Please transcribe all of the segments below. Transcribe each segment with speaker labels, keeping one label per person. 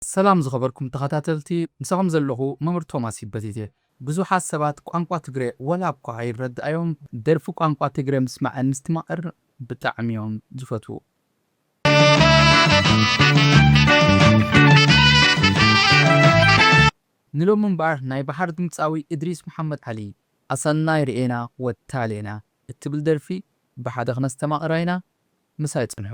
Speaker 1: ሰላም ዝኸበርኩም ተኸታተልቲ ምሳኹም ዘለኹ መምህር ቶማስ ይበል እየ ብዙሓት ሰባት ቋንቋ ትግረ ዋላ እኳ ኣይረድኣዮም ደርፊ ቋንቋ ትግረ ምስማዕን ምስትማቕር ብጣዕሚ እዮም ዝፈትዉ። ንሎሚ እምበኣር ናይ በሓር ድምጻዊ እድሪስ መሓመድ ዓሊ ኣሰናይ ርኤና ወታሌና እትብል ደርፊ ብሓደ ክነስተማቕራ ኢና ምሳይ ጽንሑ።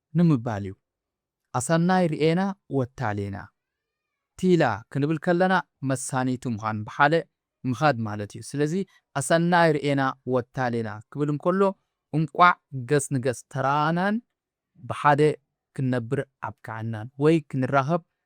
Speaker 1: ንምባል እዩ። ኣሰናይ ርእና ወታሊና ቲላ ክንብል ከለና መሳኒቱ ምዃን ብሓደ ምኻድ ማለት እዩ። ስለዚ ኣሰናይ ርእና ወታሊና ክብል እንከሎ እንቋዕ ገጽ ንገጽ ተራኣኣናን ብሓደ ክንነብር ኣብቅዓናን ወይ ክንራኸብ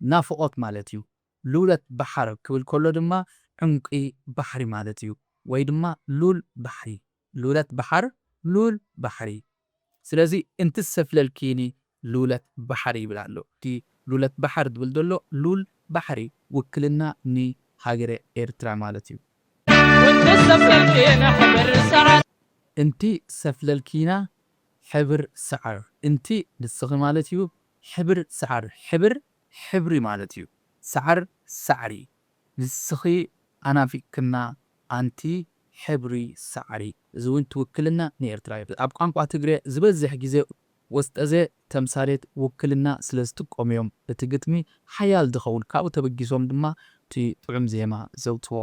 Speaker 1: ናፍቖት ማለት እዩ። ሉለት ባሕር ክብል ከሎ ድማ ዑምቂ ባሕሪ ማለት እዩ። ወይ ድማ ሉል ባሕሪ። ሉለት ባሕር፣ ሉል ባሕሪ። ስለዚ እንትሰፍለልኪኒ ሉለት ባሕር ይብል ኣሎ። እቲ ሉለት ባሕር ዝብል ዘሎ ሉል ባሕሪ ውክልና ንሃገረ ኤርትራ ማለት እዩ። እንትሰፍለልኪና ሕብር ሰዓር። እንቲ ንስኺ ማለት እዩ። ሕብር ሳዕር ሕብር ሕብሪ ማለት እዩ ሳዕር ሳዕሪ ንስኺ ኣናፊቅክና ኣንቲ ሕብሪ ሳዕሪ እዚ ውን ትውክልና ንኤርትራ እዩ ኣብ ቋንቋ ትግሬ ዝበዝሕ ግዜ ወስጠዘ ተምሳሌት ውክልና ስለ ዝጥቀሙ እዮም እቲ ግጥሚ ሓያል ዝኸውን ካብኡ ተበጊሶም ድማ እቲ ጥዑም ዜማ ዘውጽዎ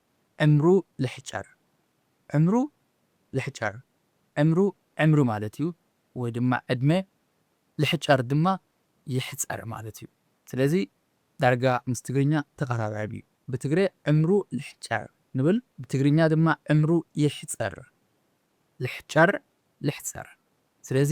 Speaker 1: ዕምሩ ልሕጨር ዕምሩ ልሕጨር ዕምሩ ዕምሪ ማለት እዩ ወይ ድማ ዕድመ ልሕጨር ድማ ይሕጸር ማለት እዩ ስለዚ ዳርጋ ምስ ትግርኛ ተቀራራቢ እዩ ብትግሬ ዕምሩ ልሕጨር ንብል ብትግርኛ ድማ ዕምሩ ይሕጸር ልሕጨር ልሕጸር ስለዚ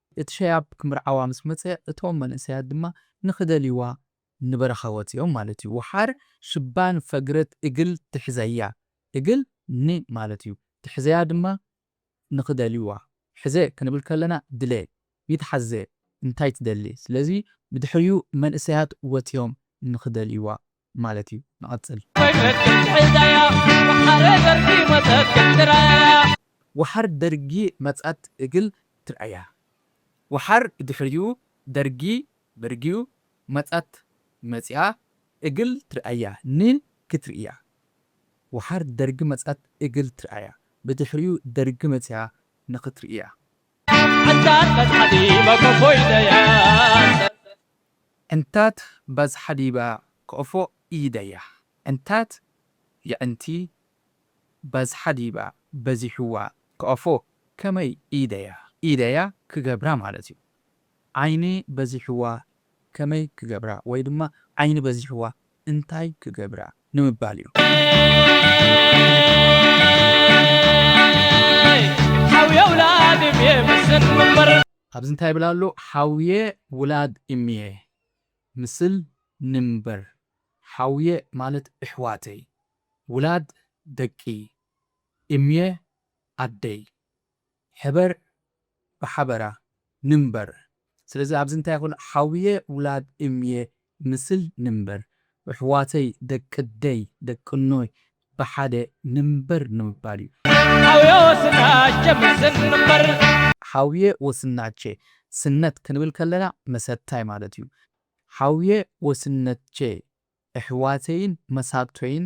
Speaker 1: እቲ ሸያብ ክምርዓዋ ምስ መጸ እቶም መንእሰያት ድማ ንኽደልይዋ ንበረኻ ወጺኦም ማለት እዩ። ወሓር ሽባን ፈግረት እግል ትሕዘያ እግል ን ማለት እዩ። ትሕዘያ ድማ ንኽደልይዋ። ሕዘ ክንብል ከለና ድለ፣ ይትሓዘ፣ እንታይ ትደሊ። ስለዚ ብድሕሪኡ መንእሰያት ወጺኦም ንኽደልይዋ። ማለት እዩ ንቐጽል። ወሓር ደርጊ መጸት እግል ትርኣያ። ወሓር ድሕሪኡ ደርጊ በርጊኡ መጸት መጺኣ እግል ትርኣያ ን ክትርእያ። ወሓር ደርጊ መጸት እግል ትርኣያ ብድሕሪኡ ደርጊ መጺኣ ንክትርእያ። እንታት በዝሓ ዲበ ኮፎ ኢደያ። እንታት በዝሓ ዲበ ኮፎ ኢደያ። እንታት የዕንቲ በዝሓ ዲበ በዚሕዋ ኮፎ ከመይ ኢደያ። ኢደያ ክገብራ ማለት እዩ። ዓይኒ በዚሕዋ ከመይ ክገብራ ወይ ድማ ዓይኒ በዚሕዋ እንታይ ክገብራ ንምባል እዩ። ኣብዚ እንታይ ይብል ኣሎ ሓውየ ውላድ እምየ ምስል ንንበር ሓውየ ማለት እሕዋተይ ውላድ ደቂ እምየ ኣደይ ሕበር ብሓበራ ንንበር ስለዚ ኣብዚ እንታይ ይኹን ሓውየ ውላድ እምየ ምስል ንንበር እሕዋተይ ደቅደይ ደቅኖይ ብሓደ ንንበር ንምባል እዩ። ሓውየ ወስናቸ ምስል ንንበር። ሓውየ ወስናቸ ስነት ክንብል ከለና መሰታይ ማለት እዩ። ሓውየ ወስነትቸ እሕዋተይን መሳቶይን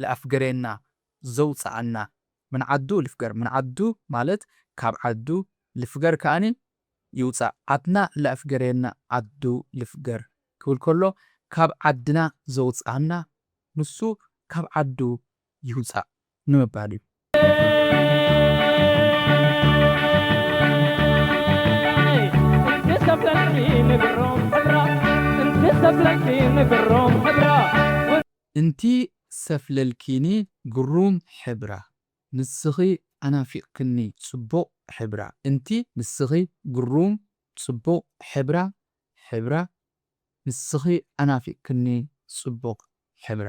Speaker 1: ልኣፍገሬና ዘውጽኣና ምን ዓዱ ልፍገር ምን ዓዱ ማለት ካብ ዓዱ ልፍገር ከኣ ይውጻእ ዓድና ልኣፍገሬና ዓዱ ልፍገር ክብል ከሎ ካብ ዓድና ዘውጽኣና ንሱ ካብ ዓዱ ይውጻእ ንምባል እዩ። እንቲ ሰፍለልኪኒ ግሩም ሕብራ ንስኺ ኣናፊቅክኒ ጽቡቅ ሕብራ እንቲ ንስኺ ግሩም ጽቡቅ ሕብራ ሕብራ ንስኺ ኣናፊቅክኒ ጽቡቅ ሕብራ።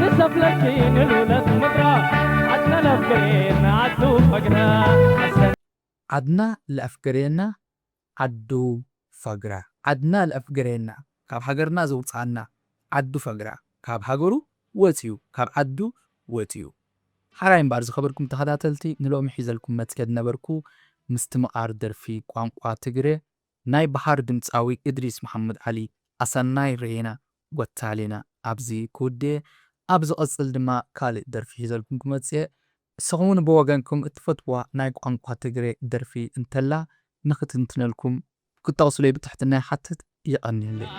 Speaker 1: ንሰፍለኪ ንሉለት ምድራ ዓድና ለፍገሬና ዓዱ ፈግራ። ዓድና ለፍገሬና ዓዱ ፈግራ። ዓድና ለፍገሬና ካብ ሃገርና ዘውጽኣና ዓዱ ፈግራ ካብ ሃገሩ ወጺኡ ካብ ዓዱ ወጺኡ። ሓራይ እምባር ዝኸበርኩም ተኸታተልቲ ንሎሚ ሒዘልኩም መጽየ ድነበርኩ ምስትምቓር ደርፊ ቋንቋ ትግሬ ናይ በሃር ድምጻዊ እድሪስ መሓመድ ዓሊ ኣሰናይ ርኤና ጎታሊና ኣብዚ ክውድኤ ኣብ ዝቅጽል ድማ ካልእ ደርፊ ሒዘልኩም ክመጽእየ ንስኹምውን ብወገንኩም እትፈትውዋ ናይ ቋንቋ ትግሬ ደርፊ እንተላ ንክትንትነልኩም ክትጠቅሱለይ ብትሕትና ይሓትት የቀንየለይ።